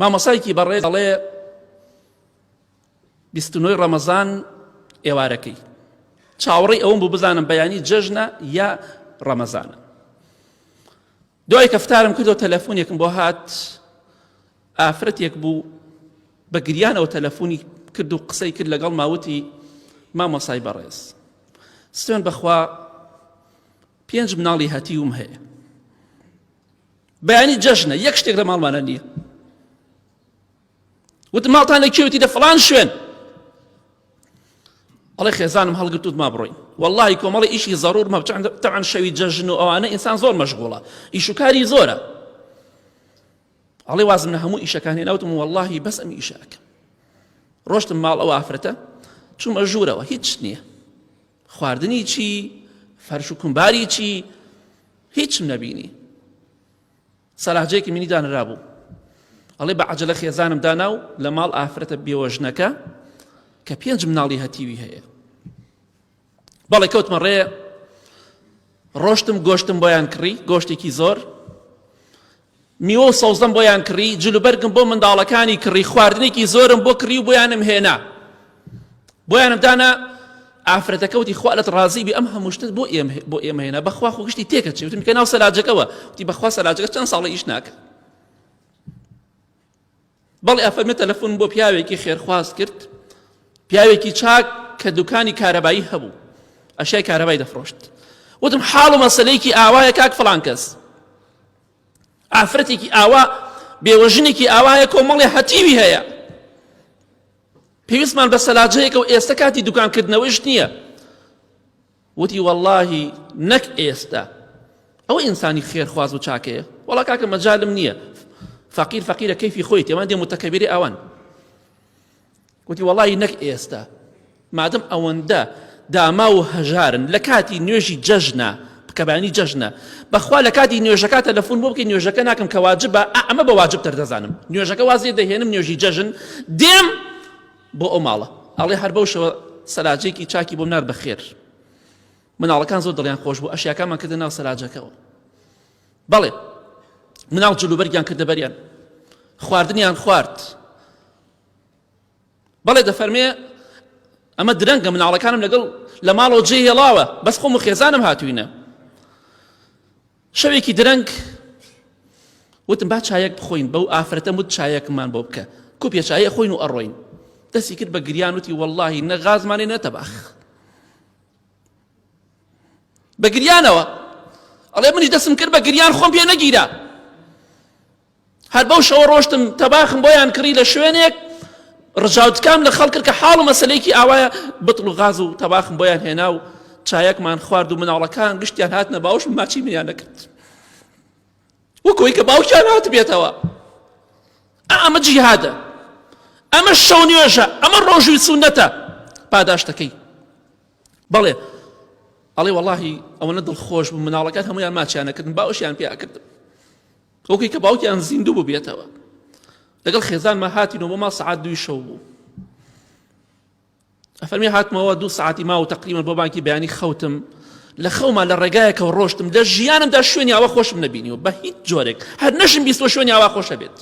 مامۆسایکی بەڕێز دەڵێ بیستنەوەی ڕەمەزان ئێوارەکەی چاوەڕی ئەوم بوو بزانم بەیانی جەژنە یا ڕەمەزانە دوای کەفتارم کردەوە تەلەفۆنێکم بۆ هات ئافرەتێک بوو بە گریانەوە تەلەفۆنی کرد و قسەی کرد لەگەڵ ماوتی مامۆسای بەڕێز سوێن بەخوا پێنج مناڵی هەتیوم هەیە بەیانی جەژنە یەک شتێک لە ماڵمانە نییە وتم ماڵتان لە کێوتی دە فلان شوێن ئەڵێ خێزانم هەڵگرتوت ما بڕۆین واللهی کۆمەڵی ئیشی زەرور مە تەعەن شەوی جەژن و ئەوانە ئینسان زۆر مەشغوڵە ئیشوکاری زۆرە ئەڵێ وازم لە هەموو ئیشەکانی ناوتم واللهی بەس ئەم ئیشەکە ڕۆشتم ماڵ ئەو ئافرەتە چوومە ژوورەوە هیچ نییە خواردنی چی؟ فەرش و کومباری چی؟ هیچم نەبینی سەلاجێکی منی دانرابوو ئەڵێ بە عجلە خێزانم دانا و لە ماڵ ئافرەتە بێوەژنەکە کە پێنج مناڵی هەتیوی هەیە بەڵێ کەوتمە ڕێ ڕۆشتم گۆشتم بۆیان کڕی گۆشتێکی زۆر میوە و سەوزەم بۆیان کڕی، جل و بەرگم بۆ منداڵەکانی کڕی، خواردنێکی زۆرم بۆ کڕی و بۆیانم هێنا. بۆیانم دانا، ئافرەتەکە وتی، خوا لەت ڕازی بێ ئەم هەموو شتت بۆ ئێمە هێنا، بەخوا خۆ گشتی تێکەچێ، وتم کە ناو سەلاجەکەوە، وتی، بەخوا سەلاجەکە چەند ساڵە ئیش ناکا. بەڵێ ئەفەرمێ تەلەفۆن بۆ پیاوێکی خێرخواز کرد پیاوێکی چاک کە دوکانی کارەبایی هەبوو ئەشای کارەبای دەفرۆشت وتم حاڵ و مەسلەیەکی ئاوایە کاک فلان کەس ئافرەتێکی ئاوا بێوەژنێکی ئاوایە کۆمەڵی هەتیوی هەیە پێویستمان بە سەلاجەیەکە و ئێستا کاتی دوکانکردنەوەیش نییە وتی وەڵاهی نەک ئێستا ئەوە ئینسانی خێرخواز و چاکەیە وەڵا کاکە مەجالم نییە فەقیر فەقیرە کەیفی خۆی تێوان دێ متەکەبیری ئەوان وتی وەڵی نەک ئێستا مادەم ئەوەندە داما و هەژارن لە کاتی نوێژی جەژنا بکەبانی جەژنە بەخوا لە کاتی نوێژەکە تەلەفۆن بۆ بکەین نوێژەکە ناکەم کە واجبە ئەمە بە واجب تەردەزانم نوێژەکە وازێ دەهێنم نوێژی جەژن دێم بۆ ئەو ماڵە ئەڵێ هەر بەو شەوە سەراجێکی چاکی بۆم نارد بەخێر مناڵەکان زۆر دڵیان خۆش بوو ئەشیاکانمان کردە ناو سەراجەکەەوە بەڵێ مناڵ جلوبەرگیان کردە بەریان خواردنیان خوارد بەڵێ دەفەرمێ ئەمە درەنگە مناڵەکانم لەگەڵ لە ماڵەوە جێ هێڵاوە بەس خۆم و خێزانم هاتوینە شەوێکی درەنگ وتم با چایەک بخۆین بەو ئافرەتەم وت چایەکمان بۆ بکە کوپیە چایە خۆین و ئەڕۆین دەستی کرد بە گریان وتی واللهی نە غازمانێ نەتەباخ بە گریانەوە ئەڵێ منیش دەسم کرد بە گریان خۆم پێ نەگیرا هەر بەو شەوە ڕۆشتم تەباخم بۆیان کڕی لە شوێنێک ڕژاوتکام لە خەڵکرد کە حاڵ و مەسلەیەکی ئاوایە بتڵ و غاز و تەباخم بۆیان هێنا و چایەکمان خوارد و مناڵەکان گشتیان هاتنە باوش ماچی منیان نەکرد وەکۆی کە باوکیان هات بێتەوە ئەمە جیهادە ئەمە شەو نوێژە ئەمە ڕۆژوی سونەتە پاداشتەکەی بەڵێ ئەڵێ وەڵی ئەوەنە دڵخۆش بوو مناڵەکان هەمویان ماچیانەکردن باوشیان پیاکردن وەکوی کە باوکیان زیندوو ببێتەوە لەگەڵ خێزانمە هاتینەوە بۆ ما سعات دوی شەو بوو ئەفەرمی هاتمەوە دوو سعاتی ما و تقریمە بۆ بانکی بەیانی خەوتم لە خەوما لە ڕێگایەکەەوە ڕۆشتم لە ژیانمدا شوێنی ئاوا خۆشم نبینیەوە بە هیچ جۆرێک هەر نەشم بیستوە شوێنی ئاوا خۆشە بێت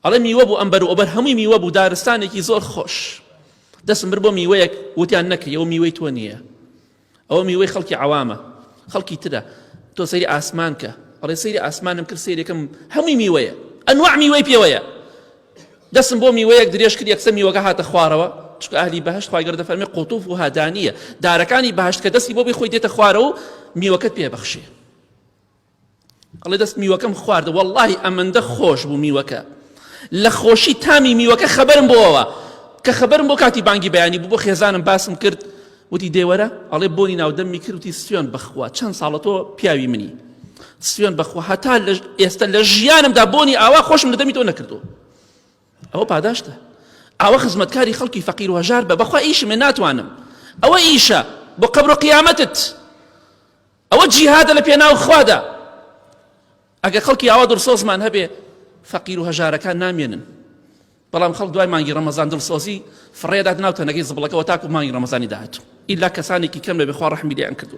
ئەڵێ میوە بوو ئەمبەر و ئەبەر هەمووی میوە بوو دارستانێکی زۆر خۆش دەسم بر بۆ میوەیەک وتیان نەکەیەوە میوەی تۆ نییە ئەوە میوەی خەڵکی عەوامە خەڵکی ترە تۆ سەیری ئاسمان کە ئەڵێ سەیری ئاسمانم کرد سەیرێکم هەمووی میوەیە ئەنواع میوەی پێوەیە دەسم بۆ میوەیەک درێژ کرد یەکسە میوەکە هاتە خوارەوە چکە ئەهلی بەهشت خی گەردە فەرمی قوتوف و هادانیە دارەکانی بەهشت کە دەستی بۆ بی خۆی دێتە خوارەوە میوەکەت پێبەخشێ ئەڵێ دەست میوەکەم خواردە وەڵاهی ئەمەندە خۆش بوو میوەکە لە خۆشی تامی میوەکە خەبەرم بۆەوە کە خەبەرم بۆ کاتی بانگی بەیانی بوو بۆ خێزانم باسم کرد وتی دێوەرە ئەڵێ بۆنی ناودەمی کردی سوێن بخوا چەند ساڵە تۆ پیاوی منی سوێن بخوا هەتا لە ئێستا لە ژیانمدا بۆنی ئاوا خۆشم لە دەمی تۆ نەکردو ئەوە پاداشتە ئەوە خزمەتکاری خەڵکی فەقیر و هەژار بە بەخوا ئیشمێ ناتوانم ئەوە ئیشە بۆ قەبرۆ قیامەتت ئەوە جیهادە لە پێناو خوادا ئەگەر خەڵکی ئاوا دڵسۆزمان هەبێ فەقیر و هەژارەکان نامێنن بەڵام خەڵک دوای مانگی ڕەمەزان دڵسۆزی فڕێدات ناو تەنەکەی زبڵەکەەوە تاکو مانگی ڕەمەزانی داهاتوو ئیلا کەسانێکی کەم لە بخوا ڕحمی لێیان کردو